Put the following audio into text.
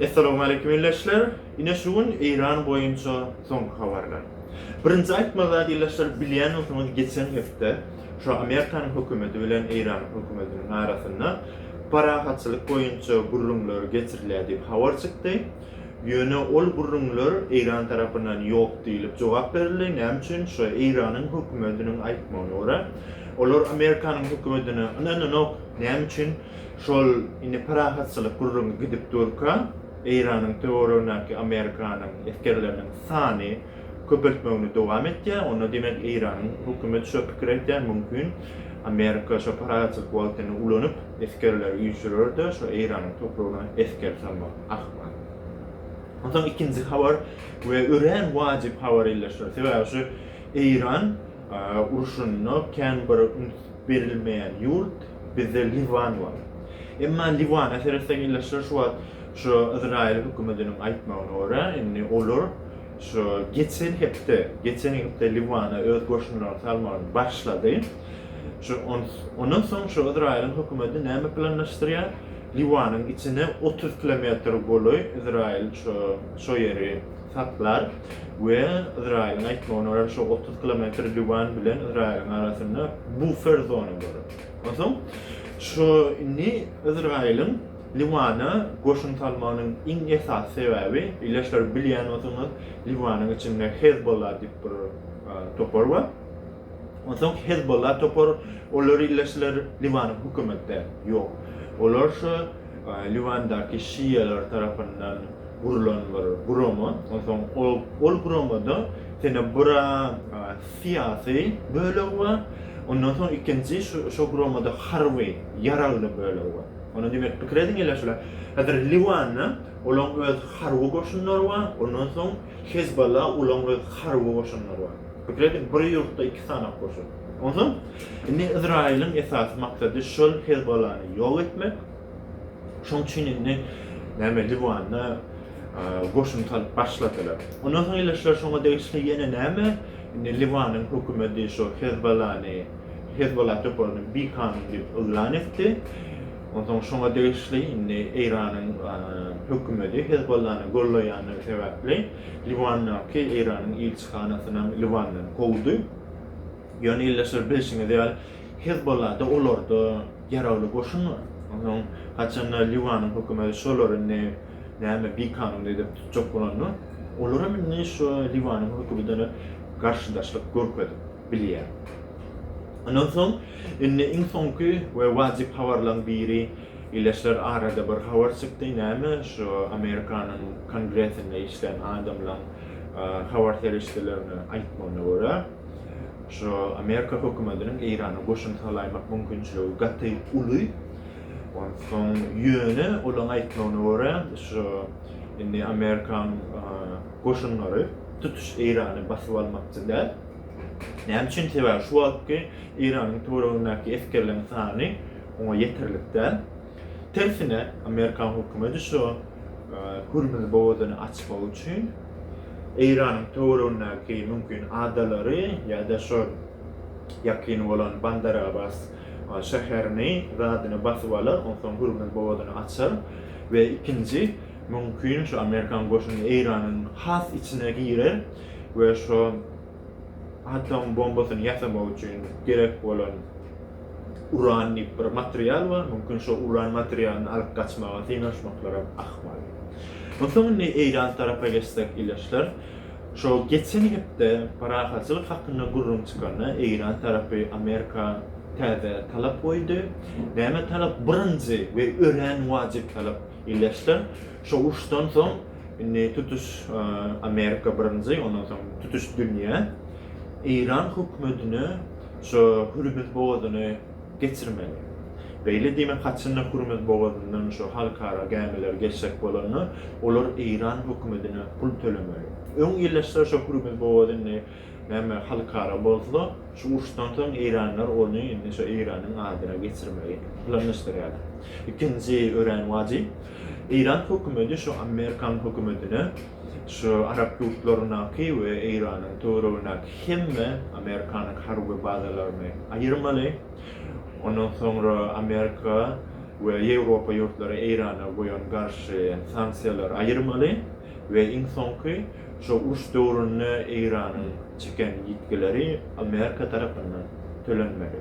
Essalawmaleýkim ildeşler! Ine şu gün Eýran boýunça soňky habarlar. Birinji aýtmaly zat ildeşler bilýän bolsaňyz geçen hepde şu Amerikanyň hökümeti bilen Eýranyň hökümetiniň arasynda parahatçylyk boýunça gürrüňler geçirilýär diýip habar çykdy. Ýöne ol gürrüňler Eýran tarapyndan ýok diýlip jogap berildi. Näme üçin? Şu Eýranyň hökümetiniň aýtmagyna görä olar Amerikanyň hökümetine ynananok. Näme üçin? Şol indi parahatçylyk gürrüňi gidip durka, Eýranyň töweregindäki Amerikanyň esgerleriniň sany köpeltmegini dowam etýär. Onda diýmek Eýranyň hökümeti şo pikir edýär, mümkin Amerika şo parahatçylyk wagtyny ulanyp, esgerleri üýşürer-de, şo Eýranyň topragyna esger salmak ahmal. Onsoň ikinji habar we örän wajyp habar ýerleşýär. Sebäbi şu Eýran urşunda kän bir üns berilmeýän ýurt bizde Liwan bar. Emma Liwana seretseň illeşler şu wagt şu Yzraýyl hökümetiniň aýtmagyna görä indi olar şu geçen hepde, geçen hepde Liwana öz goşunlaryny salmagyny başlady. Şu ondan soň şu Yzraýylyň hökümeti näme planlaşdyrýar? Liwanyň içine otuz kilometr golaý Yzraýyl şu şo ýeri saklar we Ysraýylyň aýtmagyna görä, şo otuz kilometr Liwan bilen Ysraýylyň arasynda bufer zona bolar. Onsoň şu indi Ysraýylyň Liwana goşun salmagynyň iň esasy sebäbi, ildeşler bilýän bolsaňyz, Liwanyň içinde Hezbollah diýip bir topar bar. Onsoň Hezbollah topar olary illeşdiler, Liwanyň hökümetde ýok. Olar şu Liwandaky şialar tarapyndan gurlan bir gurama, onsoň ol guramada Tenebura syýasy bölegi bar, ondan soň ikinji şo guramada harby ýaragly bölegi bar. Onda diýmek pikir ediň illeşdiler. Häzir Liwanda olaň öz harby goşunlary bar, ondan soň Hezbolla ulan we harby goşunlar bar. Pikir ediň, bir ýurtda iki sany goşun. Onsoň, indi Yzraýylyň esasy maksady şol Hezbollany ýok etmek. Şoň üçin indi näme Liwanda goşun salyp başladylar. Ondan soň ildeşler şoňa degişli ýene näme? Indi Liwanyň hökümeti şo Hezbollany, Hezbolla toparyny bikanun diýip yglan etdi. Onsoň şoňa degişli indi Eýranyň hökümeti Hezbollany goldaýandygy sebäpli Liwandaky Eýranyň ilçihanasynam Liwandan kowdy. Ýöne ildeşler bilşiňiz ýaly Hezbollada olarda ýaragly goşun bar. Onsoň haçanda Liwanyň hökümeti şolary indi näme bikanun edip tutjak bolanda olaram indi şu Liwanyň hökübidene garşydaşlyk görkezip. bilýär. Ondan soň indi iň soňky we wajyp habarlaň biri Ileşler arada bir habar çykdy näme şu Amerikanyň kongresinde işlän adamlaň habar serişdelerine aýtmagyna görä şu Amerika hökümetiniň Eýrana goşun salaýmak mümkinçiligi gaty uly ondan soň ýöne olaň aýtmagyna görä şu indi Amerikan goşunlary tutuş Eýrany basyp almakçy däl. Näme üçin? Sebäbi şu wagtky Eýranyň töweregindäki esgerleriň sany oňa ýeterlik däl. Tersine, amerikan hökümeti şu Hürmüz bogazyny açmak üçin Eýranyň töweregindäki mümkin adalary ýa-da şu ýakyn bolan Bandar Abbas şäherini, zadyny basyp alar, onsoň Hürmüz bogazyny açar we ikinji Mümkin şu amerikan goşuny Eýranyň has içine girer we şu atom bombasyny ýasamak üçin gerek bolan uran diýip bir material bar, mümkin şu uran materialyny alyp gaçmaga synanyşmaklaram ahmal. Onsoň indi Eýran tarapa geçsek ildeşler, şu geçen hepde parahatçylyk hakynda gürrüň çykanda Eýran tarapy Amerika täze talap goýdy. Näme talap? Birinji we örän wajyp talap. Illeçden şo uruşdan soň indi tutuş Amerika birinji, ondan soň tutuş dünýä Eýran hökümetine şo Hürmüz bogazyny geçirmeli. Beýle diýmek, haçanda Hürmüz bogazyndan şo halkara gämiler geçjek bolanda, olar Eýran hökümetine pul tölemeli. Öň illeçler şo Hürmüz bogazy indi Näme halkara bolsa, şu uruşdan soň eýranlar ony indi şo Eýranyň adyna geçirmegi planlaşdyrýarlar. Ikinji örän wajyp, Eýran hökümeti şu Amerikan hökümetine şu arap ýurtlaryndaky we Eýranyň töweregindäki hemme Amerikanyň harby bazalaryny aýyrmaly. Ondan soňra Amerika we Ýewropa ýurtlary Eýrana goýan garşy sanksiýalary aýyrmaly. we iň soňky şu uruş döwründe Eýranyň çeken ýitgileri Amerika tarapyndan tölenmeli.